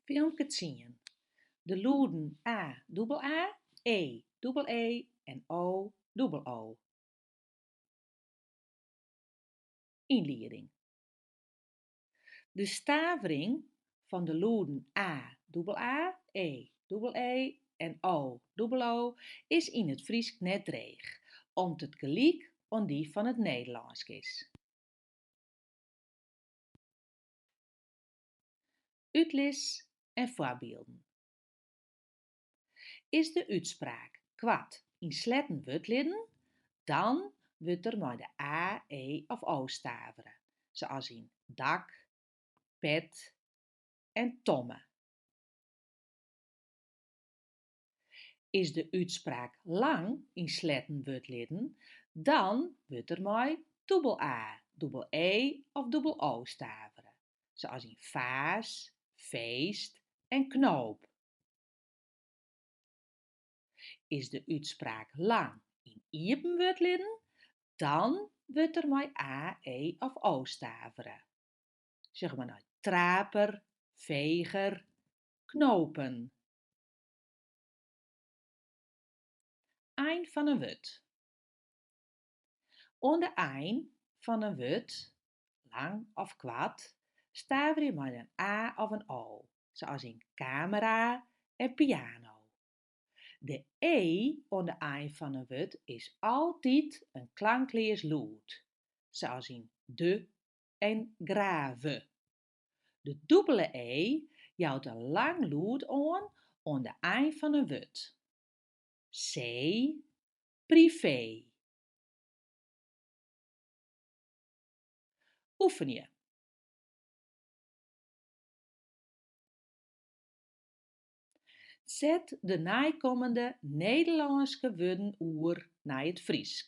Filmke tsien. De lûden a, dûbel aa, e, dûbel ee en o, dûbel oo. Ynlieding. De stavering fan de lûden a, dûbel aa, e, dûbel ee en o, dûbel oo is yn it Frysk net dreech, om't it gelyk oan dy fan it Nederlânsk is. Utlis en foarbylden. Is de útspraak koart yn sletten wurdlidden, dan wurdt der mei de a, e of o stavere, sa't as yn dak, pet en tomme. Is de útspraak lang yn sletten wurdlidden, dan wurdt der mei dûbel aa, dûbel ee of dûbel oo stavere, lykas yn faas, feest en knoop. Is de útspraak lang yn iepen wurdlidden, dan wurdt der mei a, e of o stavere, sjoch mar nei traper, feger, knopen Ein fan in wurd. Oan de ein fan in wurd, lang of koart, staverje mei in a of in o, sa's yn kamera en piano. De e oan de ein fan in wurd is altyd in klankleas lûd, sa's yn de en grave. De dûbele ee jout in lang lûd oan oan de ein fan in wurd. See, privee. Oefenje. Set de neikommende Nederlânske wurden oer nei it Frysk.